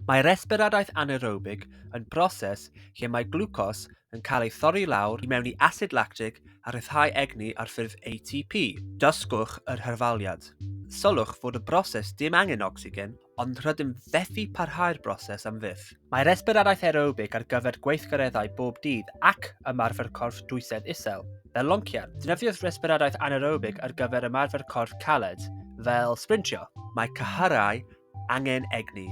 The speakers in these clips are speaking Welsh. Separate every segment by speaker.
Speaker 1: Mae resbiradaeth anaerobig yn broses lle mae glwcos yn cael ei thorri i lawr i mewn i asid lactig a rhyddhau egni ar ffurf ATP. Dysgwch yr hyrfaliad. Sylwch fod y broses dim angen ocsigen, ond rydym fethu parhau'r broses am fyth. Mae resbiradaeth aerobig ar gyfer gweithgareddau bob dydd ac ymarfer corff dwysedd isel, fel loncian. Defnyddiodd resbiradaeth anaerobig ar gyfer ymarfer corff caled, fel sbrintio. Mae cyhyrau Angen egni.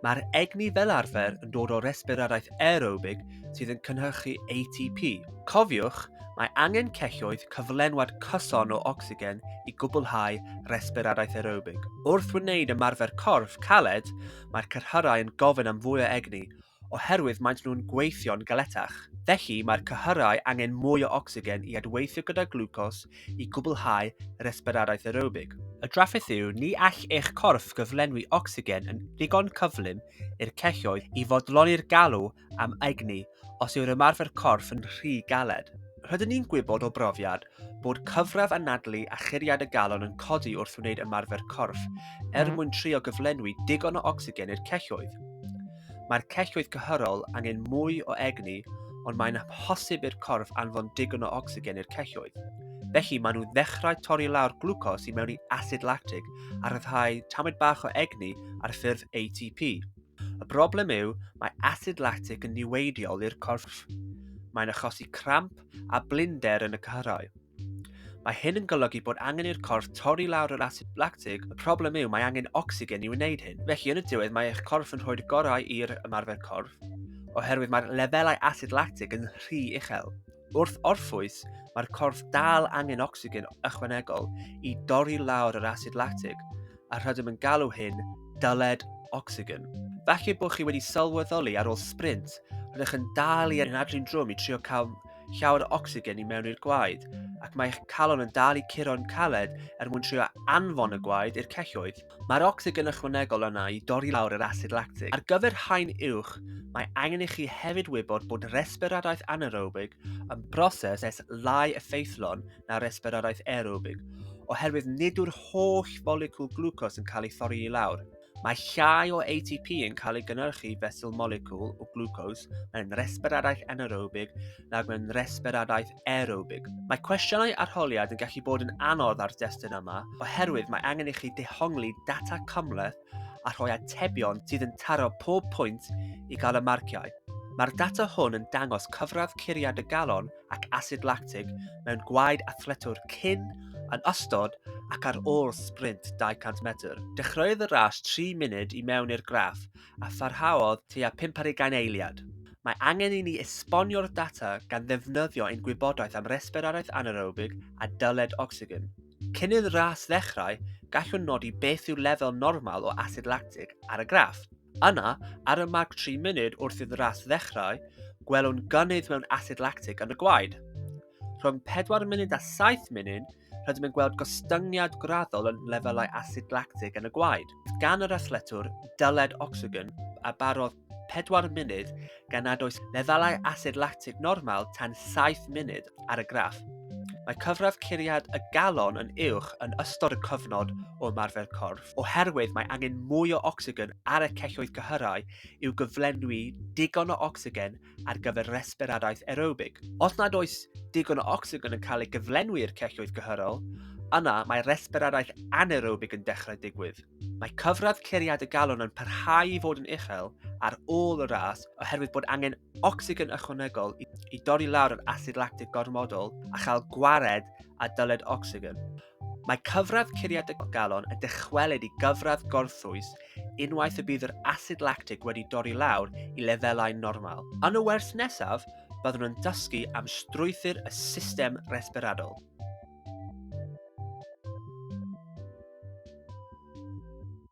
Speaker 1: Mae'r egni fel arfer yn dod o resbiradaeth aerobig sydd yn cynhyrchu ATP. Cofiwch, mae angen celloedd cyflenwad cyson o ocsigen i gwblhau resbiradaeth aerobig. Wrth wneud ymarfer corff caled, mae'r cyrhaeddau yn gofyn am fwy o egni, oherwydd maent nhw'n gweithio'n galetach. Felly, mae'r cyhyrau angen mwy o ocsigen i adweithio gyda glwcos i gwblhau resbiradaeth aerobig. Y drafferth yw, ni all eich corff gyflenwi ocsigen yn ddigon cyflym i'r celloedd i fodloni'r galw am egni os yw'r ymarfer corff yn rhy galed. Rydyn ni'n gwybod o brofiad bod cyfradd anadlu a churiad y galon yn codi wrth wneud ymarfer corff er mwyn trio gyflenwi digon o ocsigen i'r celloedd. Mae'r celloedd cyhyrol angen mwy o egni ond mae'n amhosib i'r corff anfon digon o ocsigen i'r celloedd. Felly maen nhw ddechrau torri lawr glwcos i mewn i asid lactig a rhyddhau tamid bach o egni ar ffurf ATP. Y broblem yw, mae asid lactig yn niweidiol i'r corff. Mae'n achosi cramp a blinder yn y cyhyrau. Mae hyn yn golygu bod angen i'r corff torri lawr yr asid lactig, y problem yw mae angen ocsigen i wneud hyn. Felly yn y diwedd mae eich corff yn rhoi'r gorau i'r ymarfer corff, oherwydd mae'r lefelau asid lactig yn rhy uchel. Wrth orffwys, mae'r corff dal angen ocsigen ychwanegol i dorri lawr yr asid lactig, a rydym yn galw hyn dyled ocsigen. Falle bod chi wedi sylweddoli ar ôl sprint, rydych yn dal i anadlu'n drwm i trio cael llawer o ocsigen i mewn i'r gwaed, ac mae eich calon yn dal i curo'n caled er mwyn trio anfon y gwaed i'r celloedd. Mae'r ocsigen ychwanegol yna i dorri lawr yr asid lactig. Ar gyfer haen uwch, mae angen i chi hefyd wybod bod resbiradaeth anaerobig yn broses es lai effeithlon na resbiradaeth aerobig, oherwydd nid yw'r holl folicwl glwcos yn cael ei thorri i lawr. Mae llai o ATP yn cael ei gynhyrchu fesul moleciwl o glwcos mewn resbiradaeth anaerobig nag mewn resbiradaeth aerobig. Mae cwestiynau arholiad yn gallu bod yn anodd ar destun yma oherwydd mae angen i chi dehongli data cymhleth a rhoi atebion sydd yn taro pob pwynt i gael y marciau. Mae'r data hwn yn dangos cyfradd curiad y galon ac asid lactig mewn gwaed athletwr cyn, yn ystod ac ar ôl sprint 200 metr. Dechreuodd y ras 3 munud i mewn i'r graff a pharhaodd tua 50 eiliad. Mae angen i ni esbonio'r data gan ddefnyddio ein gwybodaeth am resbiradaeth anaerobig a dyled ocsigen. Cyn i'r ras ddechrau, gallwn nodi beth yw'r lefel normal o asid lactig ar y graff. Yna, ar y marc 3 munud wrth i'r ras ddechrau, gwelwn gynnydd mewn asid lactig yn y gwaed. Rhwng 4 munud a 7 munud, rydym yn gweld gostyngiad graddol yn lefelau asid lactig yn y gwaed. Gan yr athletwr, dyled ocsigen a barodd 4 munud gan nad oes lefelau asid lactig normal tan 7 munud. ar y graff. Mae cyfradd curiad y galon yn uwch yn ystod y cyfnod o ymarfer corff, oherwydd mae angen mwy o ocsigen ar y celloedd cyhyrau i'w gyflenwi digon o ocsigen ar gyfer resbiradaeth aerobig. Os nad oes digon o ocsigen yn cael ei gyflenwi i'r celloedd cyhyrol, yna mae resbiradaeth anaerobig yn dechrau digwydd. Mae cyfradd curiad y galon yn parhau i fod yn uchel ar ôl y ras oherwydd bod angen ocsigen ychwanegol i, i dorri lawr yr asid lactig gormodol a chael gwared a dyled ocsigen. Mae cyfradd curiad y galon yn dychwelyd i gyfradd gorthwys unwaith y bydd yr asid lactig wedi dorri lawr i lefelau normal. Yn y wers nesaf, byddwn yn dysgu am strwythur y system resberadol.